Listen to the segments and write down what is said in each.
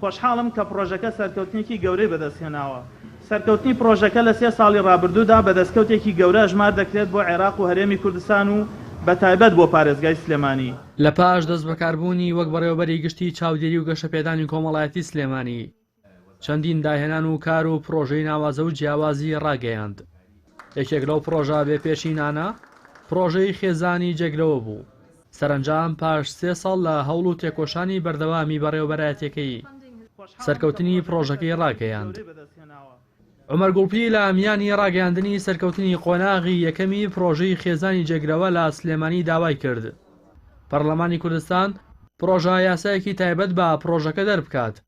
خۆشحاڵم کە پڕۆژەکە سەرکەوتنێکی گەورەی بەدەستهێناوە. سەرکەوتنی پڕۆژەکە لە سێ ساڵی ڕابردوودا بە دەستکەوتێکی گەورە ئەژمار دەکرێت بۆ عێراق و هەرێمی کوردستان و بە تایبەت بۆ پارێزگای سلێمانی. لە پاش دەستبەکاربوونی وەک بەڕێوەبەری گشتی چاودێری و گەشەپێدانی کۆمەڵایەتی سلێمانی، چەندین داهێنان و کار و پڕۆژەی ناوازە و جیاوازی ڕاگەیاند. یەکێک لەو پڕۆژە بێ پێشینانە، پڕۆژەی خێزانی جێگرەوە بوو. سەرەنجام پاش سێ ساڵ لە هەوڵ و تێکۆشانی بەردەوامی بەڕێوەبەرایەتیەکەی سەرکەوتنی پڕۆژەکەی ڕاگەیاند. عومەر گوڵپی لە میانی ڕاگەیاندنی سەرکەوتنی قۆناغی یەکەمی پڕۆژەی خێزانی جێگرەوە لە سلێمانی داوای کرد پەڕلەمانی کوردستان پڕۆژە یاسایەکی تایبەت بە پڕۆژەکە دەربکات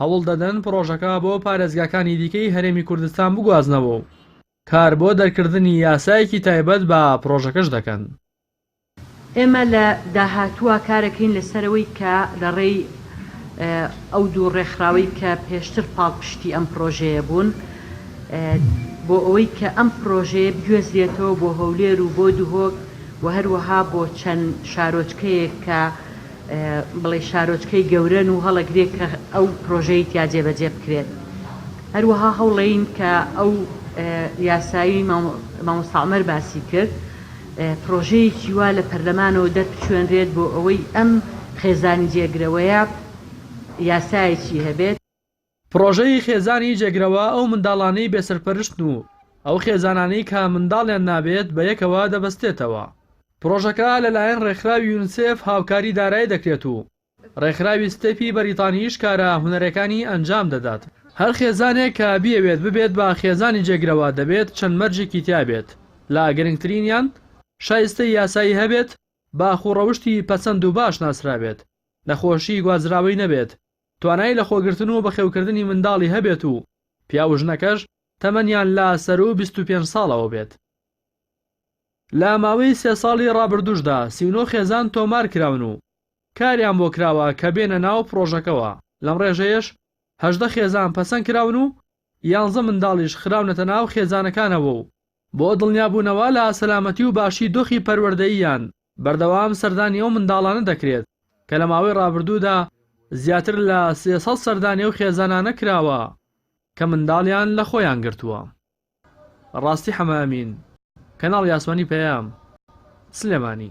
هەوڵدەدەن پڕۆژەکە بۆ پارێزگاکانی دیکەی هەرێمی کوردستان بگوازنەوە و کار بۆ دەرکردنی یاسایەکی تایبەت بە پڕۆژەکەش دەکەن. ئێمە لە داهاتووا کارەکەین لەسەرەوەی کە لە ڕێی ئەو دوو ڕێکخراوەی کە پێشتر پاڵپشتی ئەم پڕۆژەیە بوون بۆ ئەوەی کە ئەم پڕۆژەیە بگوێزرێتەوە بۆ هەولێر و بۆ دهۆک و هەروەها بۆ چەند شارۆچکەیەک کە بڵێ شارۆچکەی گەورەن و هەڵەگرێ کە ئەو پرۆژەی تیا جێبەجێ بکرێت هەروەها هەوڵین کە ئەو یاسایی مامۆستاعمەر باسی کرد پرۆژەیەکی وا لە پەرلەمانەوە دەربچوێنرێت بۆ ئەوەی ئەم خێزانی جێگرەوەیە یاسایەکی هەبێت پڕۆژەی خێزانی جێگرەوە ئەو منداڵانەی بێ سەرپەرشتن و ئەو خێزانانەی کە منداڵیان نابێت بە یەکەوە دەبەستێتەوە. پڕۆژەکە لەلایەن ڕێکخراوی یونسێف هاوکاری دارای دەکرێت و ڕێکخراوی ستێپی بەریتانیش کارە هونەرێکانی ئەنجام دەدات. هەر خێزانێک کە بیەوێت ببێت بە خێزانی جێگرەوە دەبێت چەند مەرجێکی تیا بێت لە گرنگترینیان شایستەی یاسایی هەبێت، باخ و ڕەوشتی پەسەند و باش ناسرابێت، نەخۆشی گوازراوەی نەبێت، توانای لەخۆگرتن و بەخێوکردنی منداڵی هەبێت و پیاو و ژنەکەش تەمەنیان لە سەروو بیست و پێنج ساڵەوە بێت. لە ماوەی سێ ساڵی ڕابردووشدا سی و نۆ خێزان تۆمار کراون و کاریان بۆ کراوە کە بێنە ناو پڕۆژەکەوە، لەم ڕێژەیەش هەژدە خێزان پەسەند کراون و یانزە منداڵیش خراونەتە ناو خێزانەکانەوە و بۆ دڵنیابوونەوە لە سەلامەتی و باشی دۆخی پەروەردەییان، بەردەوام سەردانی ئەو منداڵانە دەکرێت، کە لە ماوەی ڕابردوودا زیاتر لە سێ سەد سەردانی ئەو خێزانانە کراوە کە منداڵیان لە خۆیان گرتووە. ڕاستی حەمە ئەمین، کەناڵی ئاسمانی پەیام، سلێمانی.